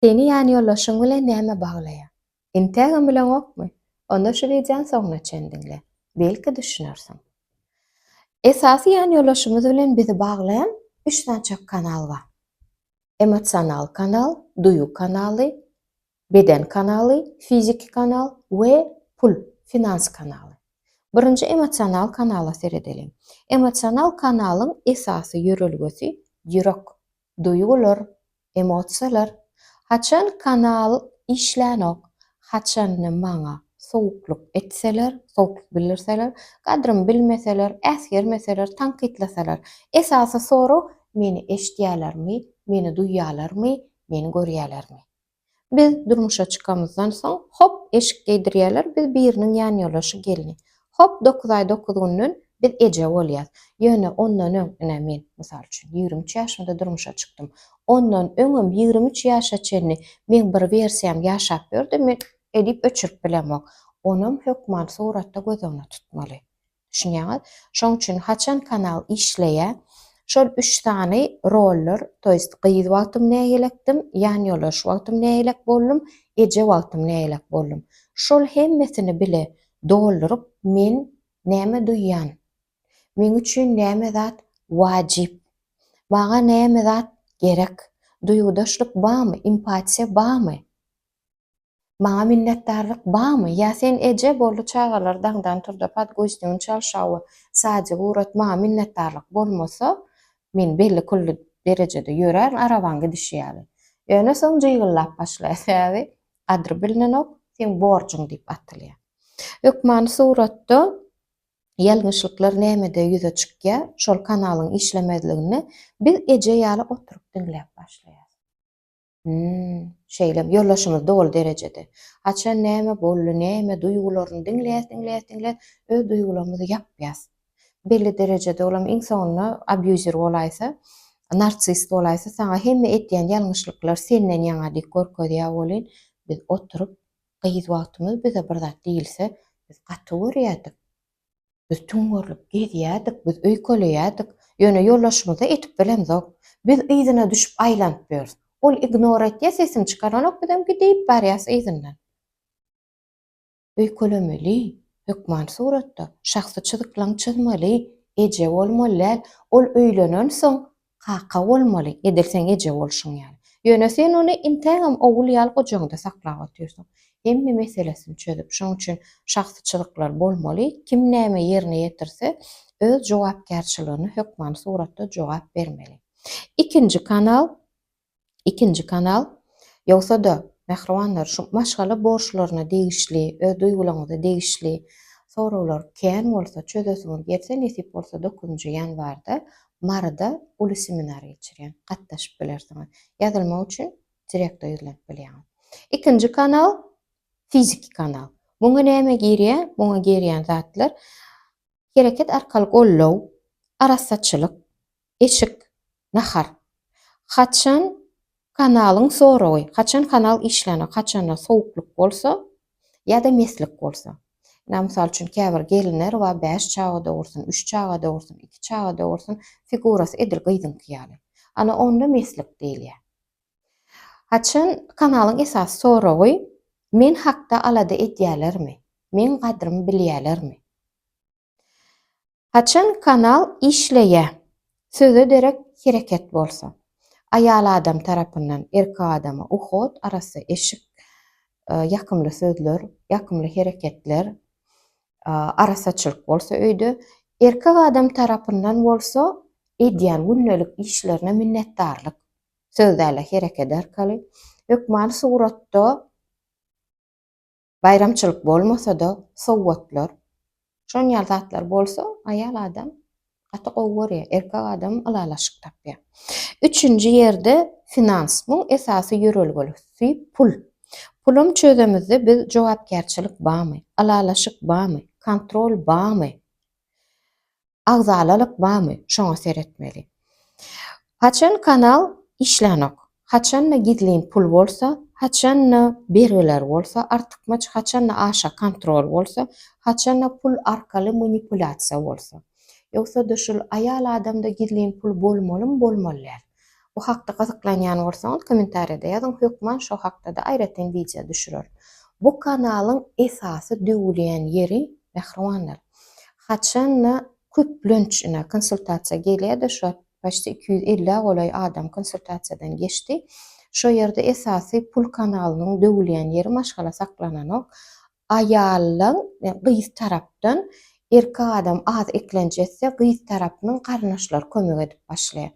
Seni ýanýoldaşyň bilen näme baglaýar? Entägem bileňokmy? Onda şu wideony soňuna çen diňle. Belki düşünersiň. Esasy ýanýoldaşymyz bilen bizi baglaýan üç sançak kanal bar. Emosional kanal, duýgy kanaly, beden kanaly, fiziki kanal we pul, finans kanaly. Birinji emosional kanala seredeliň. Emosional kanalyň esasy ýörelgesi ýürek. duýgular, emosiýalar, haçan kanal işlänok, haçanda maňa sowuklyk etseler, sowuklyk bildirseler, gadrymy bilmeseler, äsgermeseler, tankytlasalar, esasy sorag, meni eşidýälermi, meni duýýalarmy, meni görýälermi? Biz durmuşa çykamyzdan soň, hop, eşik geýdirýärler, biz biriniň ýanýoldaşy gelni. Hop, dokuz aý dokuz günden biz eje bolýas. Ýöne ondan öň, ine, men, mysal üçin, ýigrimi üç ýaşymda durmuşa çykdym. Ondan öňem ýigrimi üç ýaşa çenli meň bir wersiýam ýaşap ýördi, men edip öçürip bilemok. Onam hökman suratda göz öňüne tutmaly. Düşünýäňiz? Şoň üçin haçan kanal işleýä, şol üç sany roller, to ýest gyz wagtym nägilekdim, ýanýoldaş wagtym nägilek boldum, eje wagtym nägilek boldum. Şol hemmesini bile dolduryp men näme duýýan? Meň üçin näme zat wajyp? Maňa näme zat gerek? Duýgudaşlyk barmy, empatiýa barmy? Maňa minnetdarlyk bamy? Ýa sen eje boldy çagalar daňdan turda podguzniň çalşawy sadygy urat maňa minnetdarlyk bolmasa men belli külli derejede ýörärin arabaň gidişi ýaly. Ýöne soň jygyllap başlaýar sebäbi gadry bilinenok seň borjuň diýip atylýar. Hökmany suratda ýalňyşlyklar nämede ýüze çykýa şol kanalyň işlemezliginde biz eje ýaly oturyp diňläp başlaýas. Hümm, şeýlemi, ýoldaşymyz doly derejede. Haçan näme boldy, näme, duýgularyny diňläs, diňläs, diňläs, öz duýgularymyzy ýapýas. Belli derejede olam iň soňunda abýuzer bolaýsa, narsist bolaýsa, saňa hemme edýän ýalňyşlyklar senden ýaňa diýip görkezýär welin, biz oturyp, gyz wagtymyz bize bir zat diýilse, biz gaty görýärdik. Biz tüň görlüp gezýärdik, biz öýkeleýärdik, ýöne ýoldaşymyza etik bilemzok. Biz yzyna düşüp aýlanyp ýörüs. Ol ignor etýär, sesini çykaranok, bizem gidip barýarys yzyndan. Öýkelemeli, hökman suratda, şahsy çyzyklaň çyzmaly, eje bolmaly däl. Ol öýlenensoň, Kaka bolmaly, edil seň eje bolşuň ýaly. Ýöne sen ony intägem ogul ýaly gujagyňda saklap otyrsyň. Hemme meselesini çözüp, şoň üçin şahsy çyzyklar bolmaly, kim näme ýerine ýetirse, öz jogapkärçiligine hökmany suratda jogap bermeli. Ikinji kanal. Ikinji kanal, Ýogsa-da, mähribanlar, şu maşgala borçlaryna degişli, öz duýgularyňyza degişli soraglar kän bolsa, çözesiňiz gelse, nesip bolsa, dokuzynjy ýanwarda Maryda uly seminar geçirýän, gatnaşyp bilersiňiz. Ýazylmak üçin direkta ýüzlenip bilýäňiz. Ikinji kanal, Fiziki kanal. Muňa näme girýär? Muňa girýän zatlar, hereket arkaly goldaw, arassaçylyk, eşik, nahar. Haçan kanalyň soragy, haçan kanal işlänok, haçanda sowuklyk bolsa ýa-da meslik bolsa. Ynha, mysal üçin, käbir gelinler bar, bäş çaga dogursun, üç çaga dogursun, iki çaga dogursun, figurasy edil gyzyňky ýaly. Ana, onda meslik diýilýär. Haçan kanalyň esasy soragy, Men hakda alada edýälermi? Meň gadrymy bilýälermi? Haçan kanal işleýä söze derek hereket bolsa. Aýal adam tarapyndan erkek adama uhod arassa eşik ýakymly sözler ýakymly hereketler arassaçylyk bolsa öýde erkek adam tarapyndan bolsa edýän gündelik işlerine minnetdarlyk söz däl-de hereket arkaly hökmany suratda Baýramçylyk bolmasa-da, sowgatlar, şon ýaly zatlar bolsa, aýal adam gaty gowy görýär, erkek adam ylalaşyk tapýar. Üçünji ýerde finans. Muň esasy ýörelgelisi pul. Pulam çözemizde biz jogapkärçilik bamy, ylalaşyk bamy, kontrol bamy? agzalalyk bamy şoňa seretmeli. Haçan kanal işlänok, haçanda gizlin pul bolsa, haçanda bergiler bolsa artykmaç, haçanda aşa kontrol bolsa, haçanda pul arkaly manipulasiýa bolsa. Ýogsa-da şul aýal adamda gizlin pul bolmalymy bolmaly däl. Bu hakda gyzyklanýan bolsaňyz kommentariýada ýazyň hökman şo hakdada aýratyn wideo düşüreris. Bu kanalyň esasy döwülýän ýeri mähribanlar haçanda köplenç ine konsultasiýa gelýärde şo paçti iki ýüz elli golaý adam konsultasiýadan geçdi şo ýerde esasy pul kanalynyň döwülýän ýeri maşgala saklananok Aýaldan, gyz tarapdan, erkek adam az eklenç etse, gyz tarapynyň garyndaşlary kömek edip başlaýar.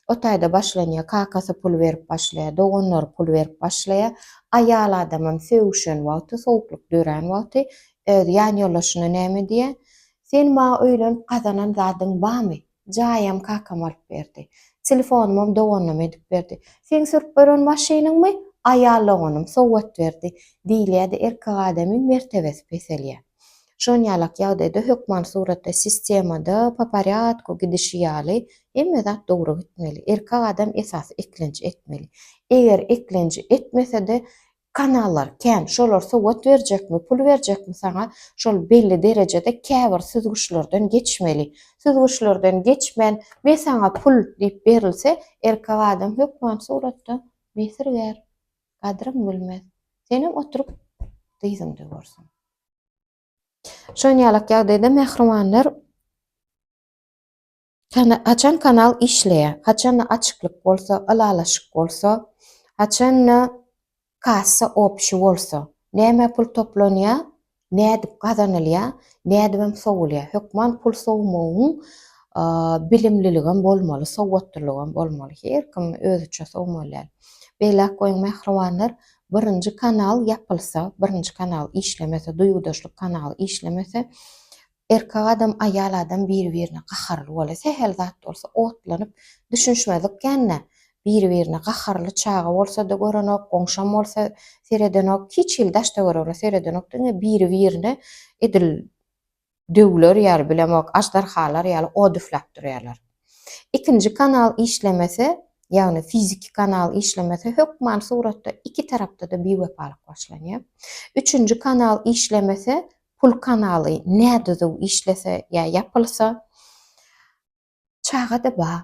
O taýda başlanýar, kakasy pul berip başlaýar, doganlary pul berip başlaýar. Aýal adamam sögüşen wagty, sowuklyk dörän wagty öz ýanýoldaşyna näme diýýär? Sen maňa öýlenip gazanan zadyň barmy? Jaýam kakam alyp berdi. Telefonymam doganym edip berdi. Seň sürüp gören maşynyňmy aýal doganym sowgat berdi diýilýä-de erkek adamyň mertebesi peselýä. Şon ýalak ýagdaýda hökman suratda sistemada po porýadku gidişi ýaly hemme zat dogry gitmeli. Erkek adam esasy eklenç etmeli. Eger eklenji etmesede Kanallar kän, şolar sowat berjekmi, pul berjekmi saňa, şol belli derejede käbir süzgüçlerden geçmeli. Süzgüçlerden geçmän, me saňa pul diýip berilse, erkek adam hökman suratda besirgär, gadryň bilmez. Senem oturyp dyzyň döwersiň. Şon ýalak ýagdaýda mähribanlar. Haçan kanal işleýär, haçanda açyklyk bolsa, ylalaşyk bolsa, haçanda kassa opşi bolsa, nämä pul toplanýar, nädip gazanylýar, nädibem sowulýar. Hökman pul sowmagyň bilimliligem bolmaly, sowatlylygyam bolmaly. Her kim özüçe sowmaly däl. Beýläk goýuň mähribanlar, birinji kanal ýapylsa, birinji kanal işlemese, duýgudaşlyk kanaly işlemese, Erkek adam, aýal adam biri-birine gaharly bolýar. Sähel zat bolsa otlanyp, düşünişmedik kän-dä. Biri-birine gaharly çaga bolsa-da görenok, goňşam bolsa seredenok, hiç hili daş-töweregine seredenok, diňe biri-birine edil döwler ýaly, bilemok, aždarhalar ýaly od üfläp durýarlar. Ikinji kanal işlemese, ýagny fiziki kanal işlemese, hökman suratda iki tarapda-da biwepalyk başlanýar. Üçünji kanal işlemese, Pul kanaly nädüzüw işlese ýa ýapylsa, çaga-da bar,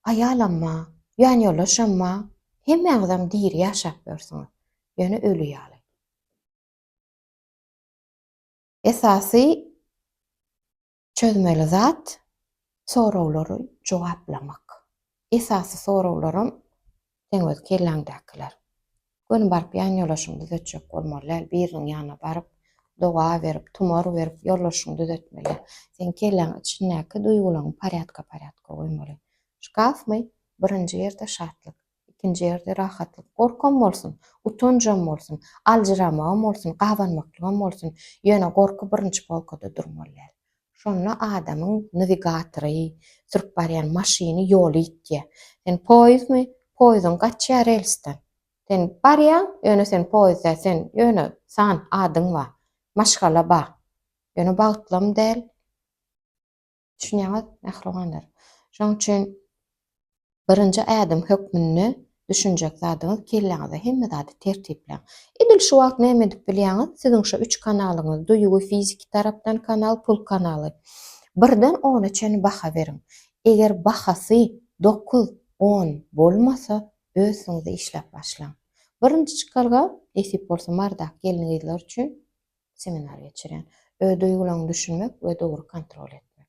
aýalam bar, ýanýoldaşam bar, hemmäňizem diri ýaşap ýörsiňiz, ýöne öli ýaly. Esasy, Çözmeli zat, soraglary jogaplamak. Esasy soraglaram seň öz kelläňdäkiler. Göni baryp ýan ýolaşyňy düzetjek bolmaly däl, biriniň ýanyna baryp, doga berip, tumar berip ýollaşyňy düzetmeli. Seň kelläň içindäki duýgulaňy parýadka-parýadka goýmaly. Şkafmy? Birinji ýerde şatlyk. Ikinji ýerde rahatlyk. Gorkam bolsun, utanjam bolsun, aljyramagam bolsun, gabanmaklygam bolsun, ýöne gorky birinji polkada durmaly däl. Şonda adamyň newigatory, sürüp barýan maşyny ýoly ýitýär. Sen poýezdmi? Poýeziň gaçýar relsden. Sen barýaň, ýöne sen poýez däl, sen ýöne san, adyň bar, maşgala bar, ýöne bagtlam däl. Düşünýäňiz, mähribanlar? Şonuň üçin birinji ädim hökmünde düşünjek zadyňyz kelläňizde hemme zady tertipläň. Edil şu wagt näme edip bilýäňiz? Siziň şu üç kanalyňyz, duýgy, fiziki tarapdan kanal, pul kanaly. Birden ona çenli baha beriň. Eger bahasy dokuz, on bolmasa, özüňiz işläp başlaň. Birinji çykalga, nesip bolsa Mardak gelin-gyzlar üçin seminar geçirýän. Öz duýgularyňy düşünmek we dogry kontrol etmek.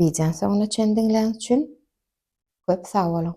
Wideony soňuna çenli diňläniň üçin köp sag boluň!